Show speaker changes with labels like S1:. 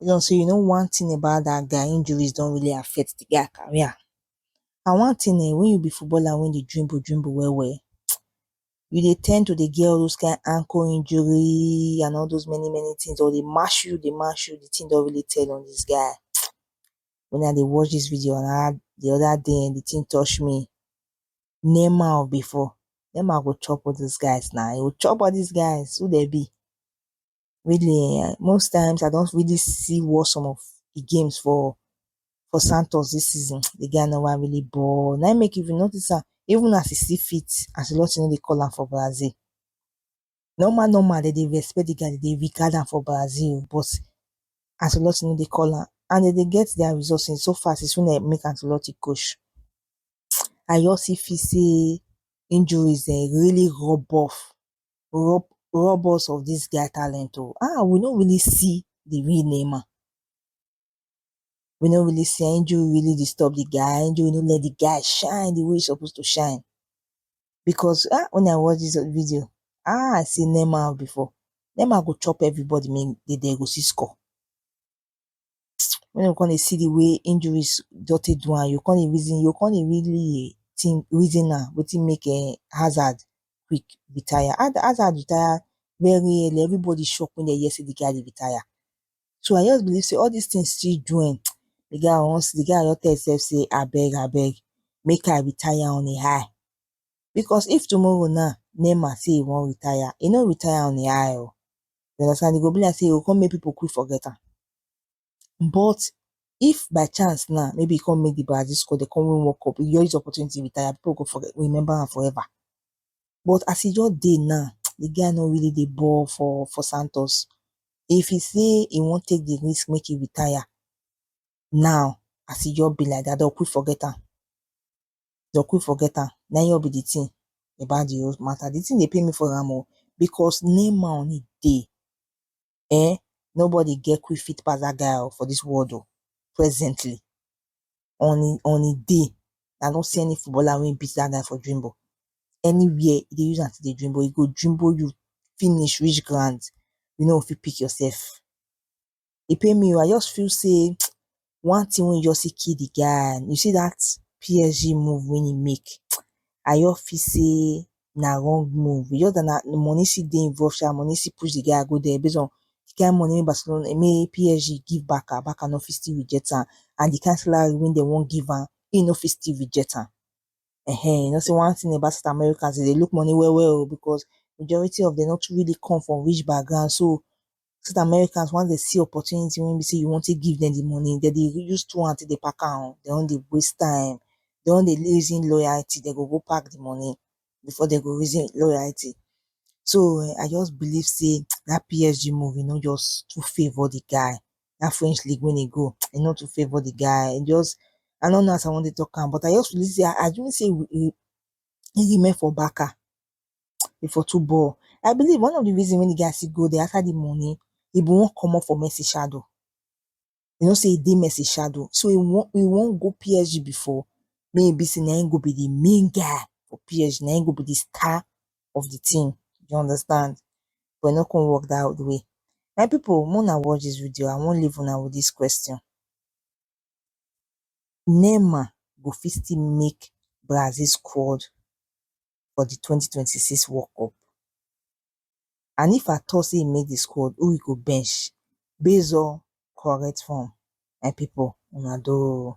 S1: Base on sey you know one thing about dat guy, injuries don really affect de guy career and one thing um wen you be footballer wen dey dribble dribble well well you dey ten d to dey get all those kind ankle injury and all those many many things or dey match you dey match you de thing don really tell on dis guy um wen I dey watch dis video um de other day um de thing touch me Neymar of before, Neymar go chop all those guys na, he go chop all dis guys who dem be really um most times I don really see watch some of the games for for santos this season the guy no wan really ball na him make if you notice am even as he still fit as a lot of dey call am for Brazil normal normal dem dey respect the guy dem dey regard am for Brazil but as a lot of dey call am and dem dey get their results in so far since when dem make am to lot of coach I just still feel say injuries um really rub off rob rob us of this guy talent oh ah we no really see the real Neymar we no really see am injury really disturb the guy injury no let the guy shine the way he suppose to shine because ah when I watch this video ah I see Neymar before Neymar go chop everybody make they dey go see score Wen u con dey see di way injuries don take do am, u go con dey reason, u go con dey really think, reason am wetin make um Hazard quick retire, Haza Hazard retire very early, everybody shock wen den hear sey di guy dey retire, so I just believe sey all dis tin still do um di guy once, di guy don tell e sef sey abeg abeg make I retire on a high, because if tomorrow na Neymar sey e wan retire, e no retire on a high o. you understand e go be like sey e go come make people quick forget am but if by chance now maybe e come make the Brazil score they come win World Cup you just use opportunity retire people go forget remember am forever but as e just dey now the guy no really dey ball for for Santos if he say he wan take the risk make he retire now as e just be like that they go quick forget am dey go quick forget am na him just be the thing about the whole matter, the thing dey pain me for am o because name money dey um nobody get quick fit pass that guy o for this world o presently on him on him day i no see any footballer wey beat that guy for Dreamboat anywhere e dey use am take dey Dreamboat e go Dreamboat you finish reach ground you no go fit pick yourself. e pain me oh, I just feel sey one thing wey e just take kill the guy, you see that PSG move wey e make, I just feel sey na wrong move, e just that na money still dey involve sha, money still push the guy go there base on the kind money wey Barcelona wey PSG give Barca, Barca no fit still reject am, and the kind salary wey dem wan give am, im no fit still reject am, ehen, you know sey one thing about South Americans, dem dey look money well well oh, because majority of dem no too really come from rich background, so so dat Americans once dem see opportunity wey be sey you wan take give dem the money, dem dey use two hand take dey pack am oh, dem no dey waste time, dem no dey reason loyalty, dem go go pack the money before dem go reason loyalty. So um I just believe sey dat PSG move, e no just too favour the guy, dat French league wey e go, e no too favour the guy, e just, I no know as I wan take talk am, but I just feel sey, I assume sey he he remain for Barca, e for too ball i believe one of the reason wey the guy still go there after the money he been wan comot for messi shadow he know say he dey messi shadow so he wan he wan go psg before make he be say na him go be the main guy for psg na him go be the star of the team you understand but e no come work that way my people make una watch this video i wan leave una with this question Neymar go fit still make Brazil squad for di twenty twenty six world cup and if at all sey e make di squad who e go bench base on correct form my pipu una do oh.